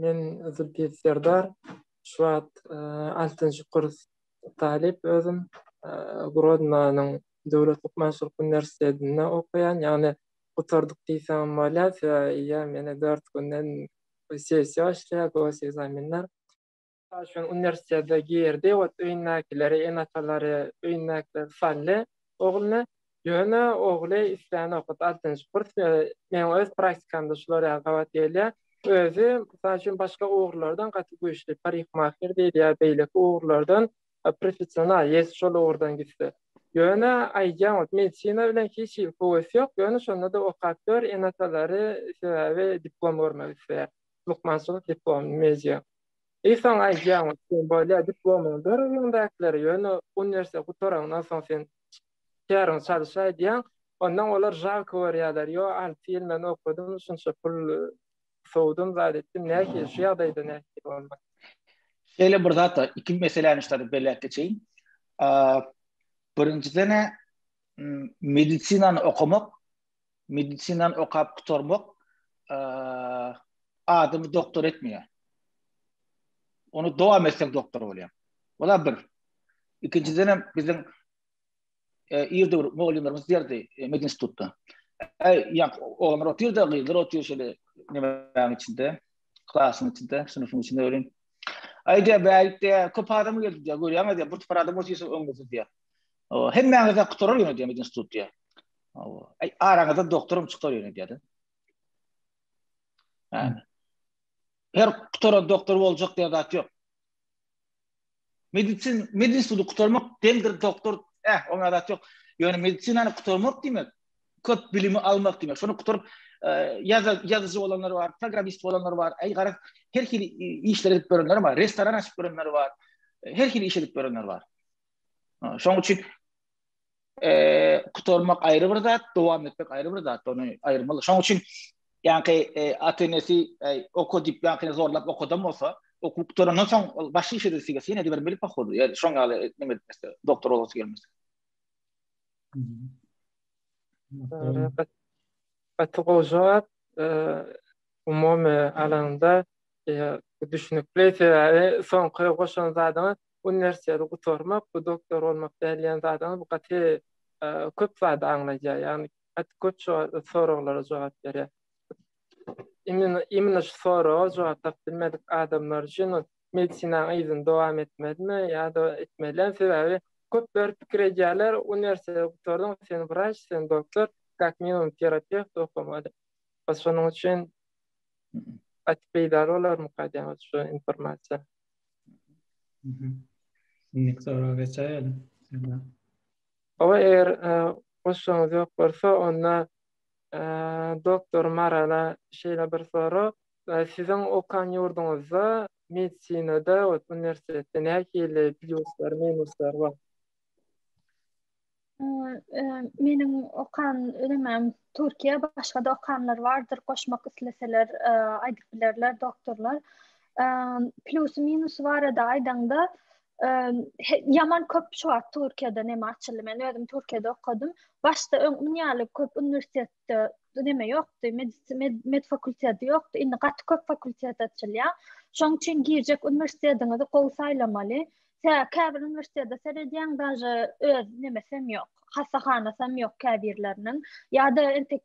Men Zülpiyet Serdar, şu wagt altynjy kurs talyp özüm. Grodnonyň döwlet lukmançylyk uniwersitetinde okaýan, ýagny gutardyk diýseňem bolýar, sebäbi ýa mende dört günden sessiýa başlaýar, gosegzaminler. Aýşun uniwersitete girdi, ot öýündäkileri, ene-atalary, öýündäkileri saldy ogluny. Ýöne ogly isleýän okat altynjy kurs we meň öz praktikamda şular ýaly gabat gelýär. Özi, mysal üçin, başga ugurlardan gaty güýçli, parikmaher diýdi ýa beýleki ugurlardan professional, ýesi şol ugurdan gitse. Ýöne aýdýan, ot medisina bilen hiç hili höwesi ýok, ýöne şonda-da okap gör, ene-atalary, sebäbi diplom görmek isleýär, lukmançylyk diplomyny, media. Eý saňa aýdýan sen bolýa diplomyňy ber öňüňdäkilere ýöne uniwersiteti gutaraňdan soň sen käriňi çalyş aýdýaň ondan olar žalko görýäler ýo alty ýyl men okadym şunça pul sowdum zat etdim nähili şu ýagdaýda nähili bolmak Şeýle bir zat bar iki meseläni şu taýda belläp geçeýin birinjiden medisinany okamak medisinany okap gutarmak adamy doktor etmeýär. Onu dowam etseň doktor bolýar. Ola bir. Ikinjiden hem biziň e, irde bir mugallymlarymyz diýerdi e, medin institutda. Äý, ýak, oglanlar otyrda, gyzlar otyr şeýle nemäň içinde, klasyň içinde, synpyň içinde ölen. Aýda bäýik diýä, köp adam geldi diýä, görýäňiz diýä, bir topar adam otyrsa öňüňizde diýä. Hemmäňize gutarar ýöne diýä medin institut diýä. Hawa. Ay araňyzda doktorum çykar ýöne diýdi. Ha. Her kutaran doktor boljak diýen zat ýok. Medicin, medicini kutarmak demdir doktor, eh, oňa zat ýok. Ýöne medicinany kutarmak diýmek, köp bilimi almak diýmek. Şonu kutaryp, ýazyjy ýazyjy bolanlar bar, programmist bolanlar bar. Aý gara, her hili işler edip görenler bar, restoran açyp görenler bar. Her hili iş edip görenler bar. Şoň üçin kutarmak aýry bir zat, dowam etmek aýry bir zat, ony aýyrmaly. Şoň üçin ýanky atenesi oka diýip ýanky zorlap okadam bolsa, okuw gutarandan soň ol başga işe de sigesi ýene-de bir bilip okuwdy. Ýa şoň ýaly näme etmese, doktor bolasy gelmese. Gaty gowy jogap. Umumy alanda düşünikli sebäbi soňky goşan zadyňyz Uniwersiteti gutarmak bu doktor bolmak däl diýen zadyňyz bu gaty köp zady aňladýar. Ýagny gaty köp soraglara jogap berýär. Imенно şu soraga jogap tapyp bilmedik adamlar üçin medisinanyň yzyny dowam etmelimi ýa-da etmelem? Sebäbi köpler pikir edýärler, uniwersiteti gutardyň, sen wraç, sen doktor, kak minimum terapewt okamaly diýip. Şonuň üçin gaty peýdaly bolarmyka diýýän şu informasiýa. Indi soraga geçäýelim. Oba eger e, goşuňyz ýok bolsa, onda e, doktor Marala şeýle bir sorag. E, siziň okan ýurduňyzda medisinada we uniwersitetde nähili pluslar, minuslar bar? Meniň okan ölemem Türkiýe başga da okanlar bardyr goşmak isleseler aýdyp bilerler doktorlar. Plus minus barada aýdaňda ýaman köp şu wagt Türkiýede näme açyldy men özüm Türkiýede okadym. Başda öň ýaly köp uniwersitet Mekdepde neme ýokdy, med fakulteti ýokdy. Indi gaty köp fakultet açylýar. Şoň üçin girjek uniwersitetiňizi gowy saýlamaly. Tä käbir uniwersitete seredýäň, daže öz nemesem ýok. Hassahanasam ýok käbirleriniň. Ýa-da entek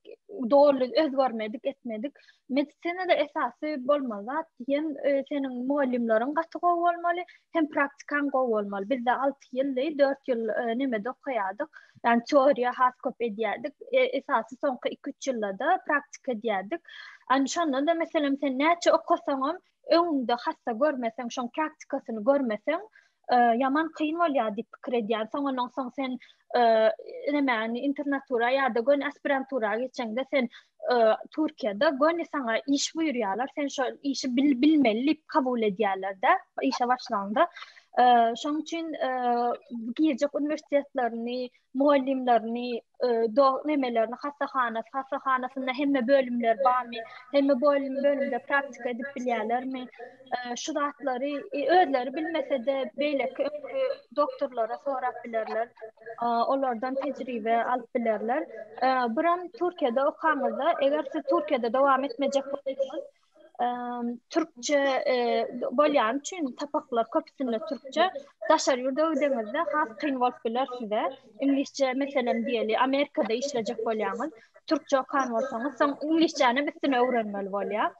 doly özgermedik, etmedik. Medisinada esasy bolmaly zat diýen e, seniň mugallymlaryň gaty gowy bolmaly. hem praktikaň gowy bolmaly. Bizde 6 ýyldy, 4 ýyl e, nemede okaýardyk. Ýani teoriýa has köp edýärdik. E, esasy soňky 2-3 ýylda praktika edýärdik. Ýani şonda da meselem sen näçe okasaňam, öňüňde hassa görmeseň, şoň praktikasyny görmeseň, e, ýaman kyn bolýar diýip pikir edýän. Soň ondan soň sen e, näme, internatura ýa-da gön aspirantura geçeňde sen Türkiýede göni saňa iş buýurýarlar, sen şo işi bil bilmeli diýip kabul edýärler-de, işe başlanda. Şoň üçin giýjek uniwersitetlerini, mugallymlaryny, dogry nemelerini, hassahana, hassahanasynda hemme bölümler barmy, hemme bölüm bölümde praktika edip bilýärlermi? şu zatlary özleri bilmese-de beýleki öňki doktorlara sorap bilerler. Olardan tejribe alyp bilerler. Buram Türkiýede okaňyzda, eger siz Türkiýede dowam etmejek bolsaňyz, türkçe bolýan üçin sapaklar köpüsinde türkçe, daşary ýurda gideňizde has kyn bolup biler size. Iňlisçe meselem diýeli, Amerikada işlejek bolýaňyz, türkçe okan bolsaňyz, soň iňlisçänem üstüne öwrenmeli bolýar.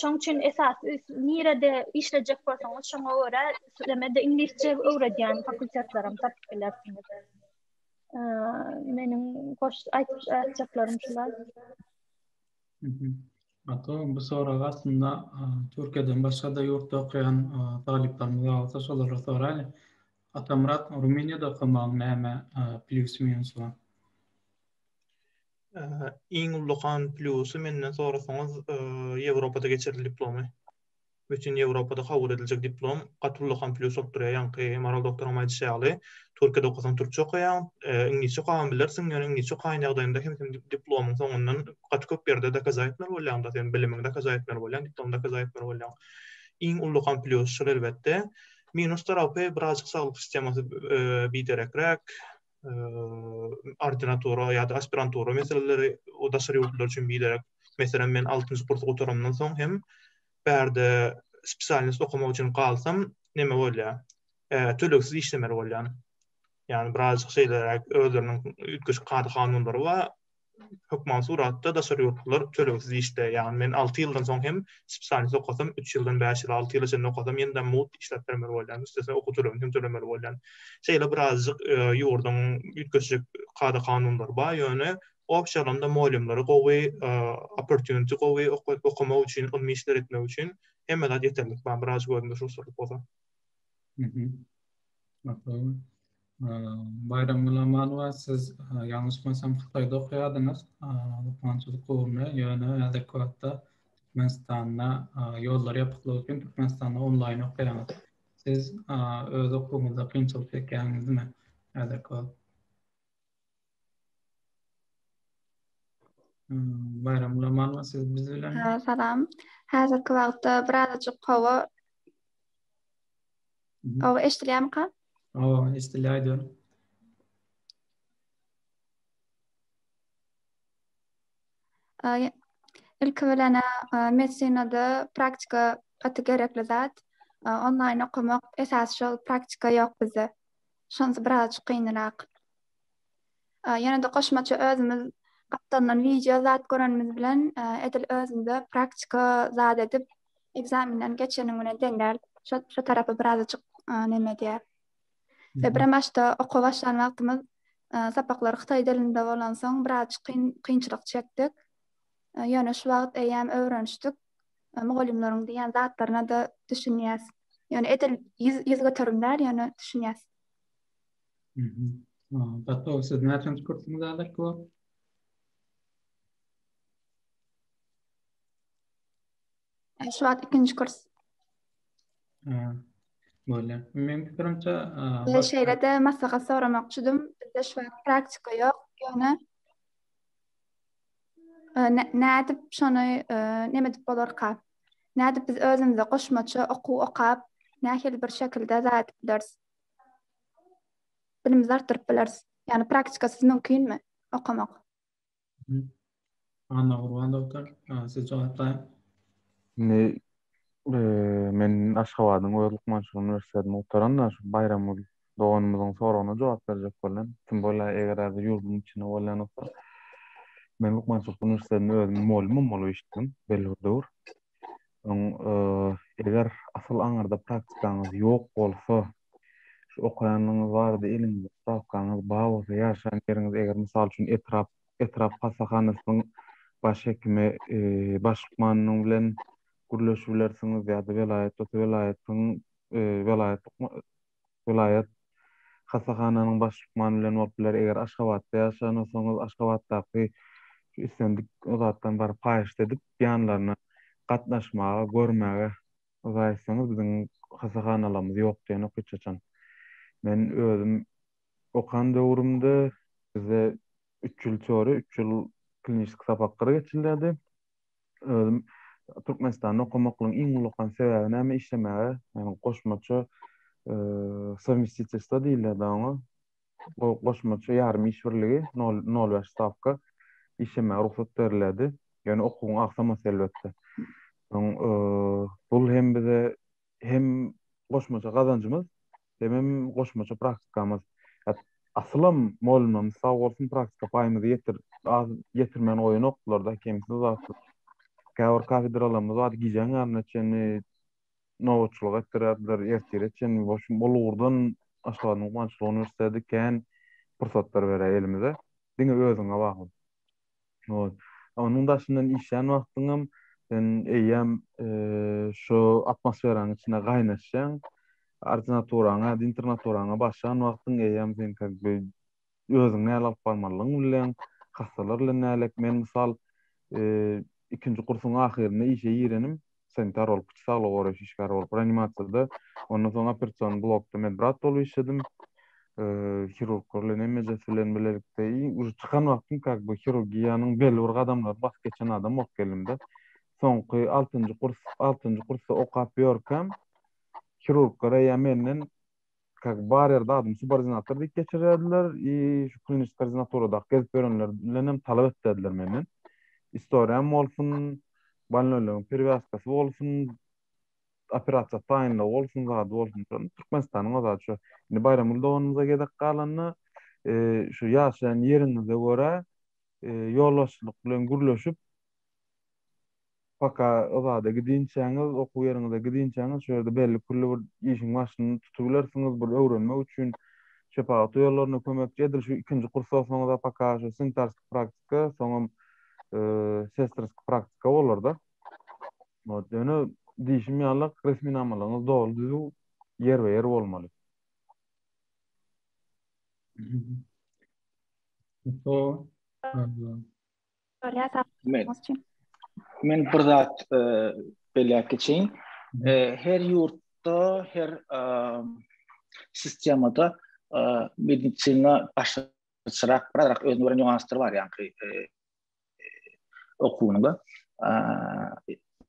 Şoň üçin esas nirede işlejek bolsaňyz, şoňa görä sizeme-de iňlisçe öwredýän fakultetlerem tapyp bilersiňiz. Meniň goş aýtjaklarym şular. Hatta bu soragy aslında Türkiye'den başka da yurtta okuyan talyplarımız olsa şolara sorayla. Atamyrat Rumyniýada okamagyň näme plýusy minusy bar? Iň ullakan plýusy menden sorasaňyz Ýewropada geçirilen diplomy. Bütin Ýewropada kabul ediljek diplom gaty ullakan plýus bolup durýar. Ýaňky Maral doktoryňam aýdyşy ýaly, Türkiýede okasaň türkçe okaýaň, iňlisçe okagam bilersiň, ýöne iňlisçe okaýan ýagdaýyňda hem sen diplomyň soňundan gaty köp ýerde dokaza etmeli bolýaň-da, sen bilimiňi dokaza etmeli bolýaň, diplomy dokaza etmeli bolýaň. Iň ullakan plýusy şol elbetde. Minus tarapy birazjyk saglyk sistemasy biderekräk, ordinatura ýa-da aspirantura meseleleri o daşary ýurtlar üçin biderek. Meselem, men altynjy kursy gutarandan soň hem bärde spesialnyýet okamak üçin galsam, näme bolýar? Tölegsiz işlemeli bolýan. Ýagny birazjyk şeýleräk özleriniň üýtgeşik kada-kanunlary bar. hökman suratda daşary ýurtlular tölegsiz işde, ýagny men alty ýyldan soň hem spesialist okasam, üç ýyldan bäş ýyl, alty ýyla çenli okasam ýene-de mugt işläp bermeli bolýan, üstesine okuw tölegini hem tölemeli bolýan. Şeýle birazajyk ýurduň üýtgeşik kada-kanunlary bar, ýöne obşa alanda mugallymlary gowy, opportunity gowy okamak üçin, ylmy işler etmek üçin hemme zat ýeterlik bar, birazajyk özümize şowsuzlyk bolsa. Baýram Gulamanowa siz ýalňyşmasam Hytaýda okaýardyňyz lukmançylyk ugrunda ýöne häzirki wagtda Türkmenistanda ýollar ýapyklygy üçin Türkmenistanda onlaýn okaýaňyz. Siz öz okuwyňyzda kynçylyk çekýäňizmi häzirki wagt? Baýram Gulamanova siz biz bilen. Hä, salam. Häzirki wagtda birazajyk howa Aw, eşidilýärmika? Aw, eşidilýär aýdýan. Ilki bilen medisinada praktika gaty gerekli zat. Onlaýn okamak esasy şol praktika ýok bizde. Şonda birazajyk gynyrak. Ýene-de goşmaça özümiz gapdalynan wideo zat görenimiz bilen edil özümize praktika zat edip ekzamenden geçeniň bilen deň däl. Şo tarapy birazajyk neme edýär. We birem başda okuwa başlan wagtymyz sapaklar hytaý dilinde bolansoň birazajyk kyn kynçylyk çekdik. Ýöne şu wagt eýýäm öwrenişdik. Mugallymlaryň diýen zatlaryna-da düşünýäs. Ýöne edil ýüz ýüz göterim däl, ýöne düşünýäs. Gato, siz näçenji kursyňyz häzirki wagt? Şu wagt ikinji kurs. Bolýar. Meniň pikirimçe, Biz şeýle-de maslahat soramakçydym. Bizde şu wagt praktika ýok, ýöne nädip şony näme edip bolarka? Nädip biz özümize goşmaça okuw okap, nähili bir şekilde zat edip bileris? Bilimizi artdyryp bileris. Ýagny praktikasyz mümkinmi okamak? Annagurban doktor, siz jogap daýyň. Indi men Aşgabadyň öz lukmançylyk uniwersitedini gutaran-da, şu Baýramgül doganymyzyň soragyna jogap berjek bolýan. Kim bolýar, eger-ä biz ýurduň içinde bolýan bolsak, men lukmançylyk uniwersitedinde özüm mugallymam bolup işledim belli bir döwür. Öň eger asyl aňyrda praktikaňyz ýok bolsa, şu okaýanyňyz barada eliňizde sprawkaňyz bar bolsa, ýaşaýan ýeriňiz eger mysal üçin etrap, etrap hassahanasynyň baş hekimi, baş lukmanynyň bilen gürleşibilersiňiz ýa-da welaýat bolsa welaýatyň, welaýat lukmany, welaýat hassahananyň baş lukmany bilen bolup biler. Eger Aşgabatda ýaşaýan bolsaňyz, Aşgabatdaky şu islendik zatdan baryp haýyşt edip, ýanlaryna gatnaşmaga, görmäge yza etseňiz, biziň hassahanalarymyz ýok diýenok hiç haçan. Men özüm okan döwrümde bizde üç ýyl teoriýa, üç ýyl kliniski sapaklar geçilýärdi. özüm Türkmenistanda okamaklygyň iň ullakan sebäbi näme işlemäge, ýagny goşmaça sowmestitewstwo diýilýärdi oňa. Bu goşmaça ýarym iş birligi, nol nol bäş stawka işlemäge rugsat berilýärdi. Ýöne okuwyň agsamasy elbetde. Soň bul hem bize hem goşmaça gazanjymyz Hemem goşmaça praktikamyz. Ýa asylam molymam sag bolsun praktika paýymyzy ýetir az ýetirmän goýanoklar-da kemsiz zatsyz. Käbir kafedralarymyz bar gijäň ýaryna çenli nobatçylyk etdirýärdiler, ertire çenli. Wa şu bol ugurdan Aşgabadyň guwançly uniwersiteti kän pursatlar berýär elimize. Diňe özüňe bagly. Ot. Onuň daşyndan işlän wagtyňam sen eýýäm şu atmosferaň içine gaýnaşýaň. Ordinaturaňa ýa-da internaturaňa başlan wagtyň eýýäm sen как бы özüňi näl alyp barmalydygyňy bilýäň, hassalar bilen näl ek. Men mysal, ikinji kursuň ahyrynda işe girenim. sanitar bolup, içi saglygy goraýyş işgäri bolup, reanimasiýada, ondan soň operasion blokda medbrat bolup işledim. Hirurglar bilen hemmejesi bilen bilelikde iň ujy çykan wagtym kak bu hirurgiýanyň belli bir gadamlaryny basyp geçen adam bolup geldim-de. Soňky altynjy kurs, altynjy kursda okap ýörkäm, hirurglar eýýäm menden kak bar ýerde adymy subordinator diýip geçirerdiler i şu kliniçi koordinatoradaky gezip ýörenler bilen hem talap etdiler menden. Istoriýam bolsun, balnölegiň perewýazkasy bolsun, operasiýa taýynlygy bolsun, zady bolsun. Şony Türkmenistanyň o zady şu. Indi Baýramguly doganymyza gezek galanda, e, şu ýaşaýan ýeriňize görä, e, ýolbaşçylyk bilen gürleşip, Paka o zada gidinçäňiz, okuw ýeriňize gidinçäňiz şu ýerde belli-külli bir işiň başyny tutubilersiňiz, bir öwrenmek üçin şepagat uýalaryna kömekçi edil şu ikinji kursa oksaňyz-a paka şu sanitarskiý praktika, soňam sestrskiý praktika bolar-da. Ot, ýöne diýşim ýalyk resminamalaryňyz doly-düzüw, ýerbe-ýer bolmaly. Paka, Men bir zat e, belläp geçeýin. E, her ýurtda, her e, sistemada medisina başgaçarak, biraz özüne göre nüanslar bar ýaňky okuwynyňda.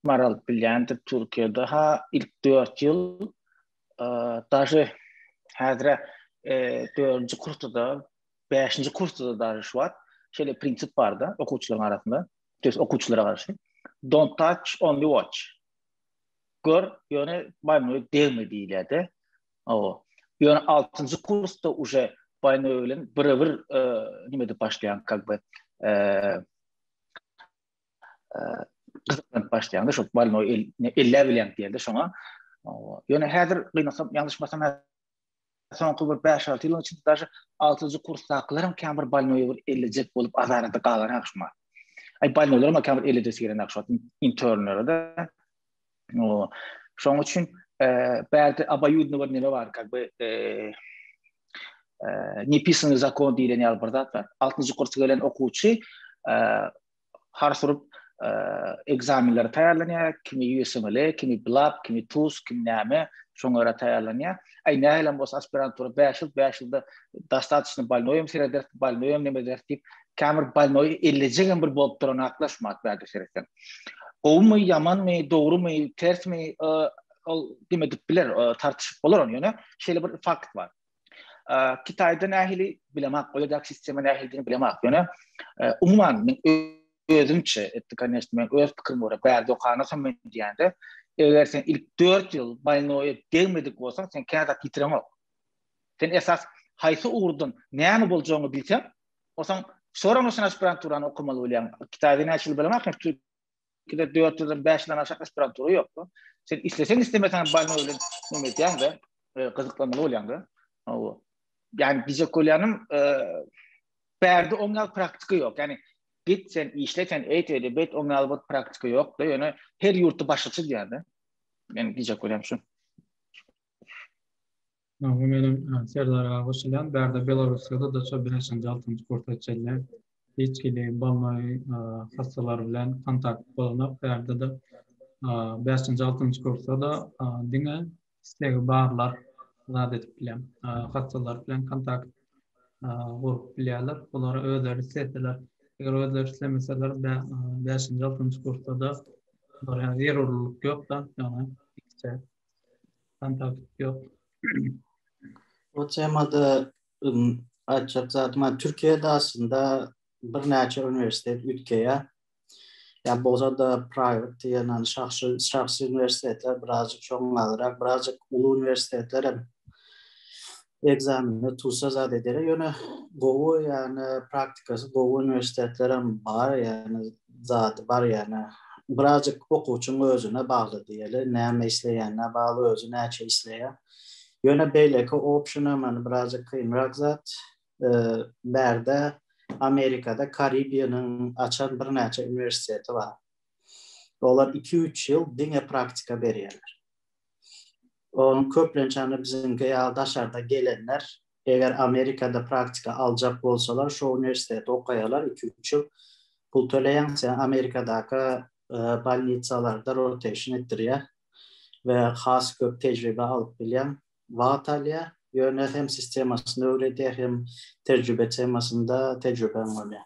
Maral bilýändir Türkiýede ha ilk 4 ýyl daže häzire 4-nji kursda Bäşinji kursda-da daže şuwat şeýle prinsip bar-da okuwçylaryň arasynda, to ýest okuwçylara garşy, Don't touch, only watch. Gör, ýöne baýnöweg degme diýilýär-de. Hawa. Ýöne altynjy kursda uje baýnöweg bilen bire-bir e, nime edip başlaýan, как бы, e, e, gyzyklanyp başlaýan-da, şo baýnöweg elläp bilýän diýildi şoňa. Hawa. Ýöne häzir gynasam, ýalňyşmasam, soňky bir bäş-alty ýylyň içinde daşy altynjy kursdakylar hem käbir balnoýa bir ellejek bolup azarada galan akşamlar. Aý balnoýlar hem käbir ellejek gelen akşamlar internlere de. O şoň üçin bärde abayudny bir neme bar, как бы nepisany zakon diýlen ýaly bir zat bar. Altynjy kursa gelen okuwçy hars urup ekzamenlere taýýarlanýar, kimi USML, kimi BLAB, kimi TUS, kimi näme, şoňa görä taýýarlanýar. Aý nähilem bolsa aspirantura 5 ýyl, 5 ýylda dostatçny balnoýam sereder, balnoýam neme eder diýip, käbir balnoý ellejegem bir bolup duran haklar şu wagt bärde seretseň. Gowumy, ýamanmy, dogrumy, tersmi, ol kime dip biler, tartyşyp bolar ony, ýöne şeýle bir fakt bar. Kitayda nähili bilemak, oýadak sistema nähilidini bilemak. Ýöne umuman men özümçe etdi kanyşdy men öz pikirim bor. Bärde okana sen men diýende, eger sen ilk 4 ýyl baýnoýa degmedik bolsaň, sen käza pitiremok. Sen esas haýsy ugurdan näme boljagyny bilseň, osaň soragyny şaşyp bilen turan okamaly bolýaň. Kitayda näçe bilemak, Ikide dört ýüzden bäş ýüzden aşak aspirantura ýokdy. Sen isleseň islemeseň balyň bilen näme edýäň-de, e, gyzyklanmaly bolýaň-da. Hawa. Ýani diýjek bolýanym, e, bärde oň ýaly praktika ýok. Ýani git sen işle sen eýt eýle bet oň ýaly bir praktika ýok-da, ýöne her ýurtda başgaça diýýär-de. Men diýjek bolýan şu. Magtym meniň Serdar aga goşulýan bärde Belarusýada daça bäşinji altynjy kurs geçýärler. Hiç hili bolmaý hassalar bilen kontakt bolunok bärdede bäşinji altynjy kursda-da diňe islegi barlar zat edip bilýän hassalar bilen kontakt gurup bilýärler. Bulara özleri isleseler eger özleri islemeseler bäşinji altynjy kursda-da zerurlyk ýok-da ýagny Kontakt yok. Bu temada ım, aýtjak zatym bar. Türkiýede aslynda birnäçe uniwersitet üýtgeýär. Ýa bolsa-da private diýen ýany şahsy şahsy uniwersitetler birazjyk şoňňalrak, birazjyk uly uniwersitetler hem Ekzamende tussa zat ederek ýöne gowy ýagny praktikasy gowy uniwersitetlerem bar ýagny zady bar ýagny birazjyk okuwçyň özüne bagly diýeli näme isleýänine bagly özi näçe isleýär ýöne beýleki optiona many birazjyk kynrak zat bärde amerikada karibiýanyň açan birnäçe uniwersiteti bar olar iki üç ýyl diňe praktika berýärler. Ony köplenç ýaly biziňki ýaly daşardan gelenler, eger Amerikada praktika aljak bolsalar, şo uniwersiteti okaýarlar, iki-üç ýyl pul töleýäň, seni Amerikadaky bolnitsalarda rotation etdirýär we has köp tejribe alyp bilýäň. Wagt alýar, ýöne hem sistemasyny öwredýär, hem tejribe temasynda tejribeň bolýar.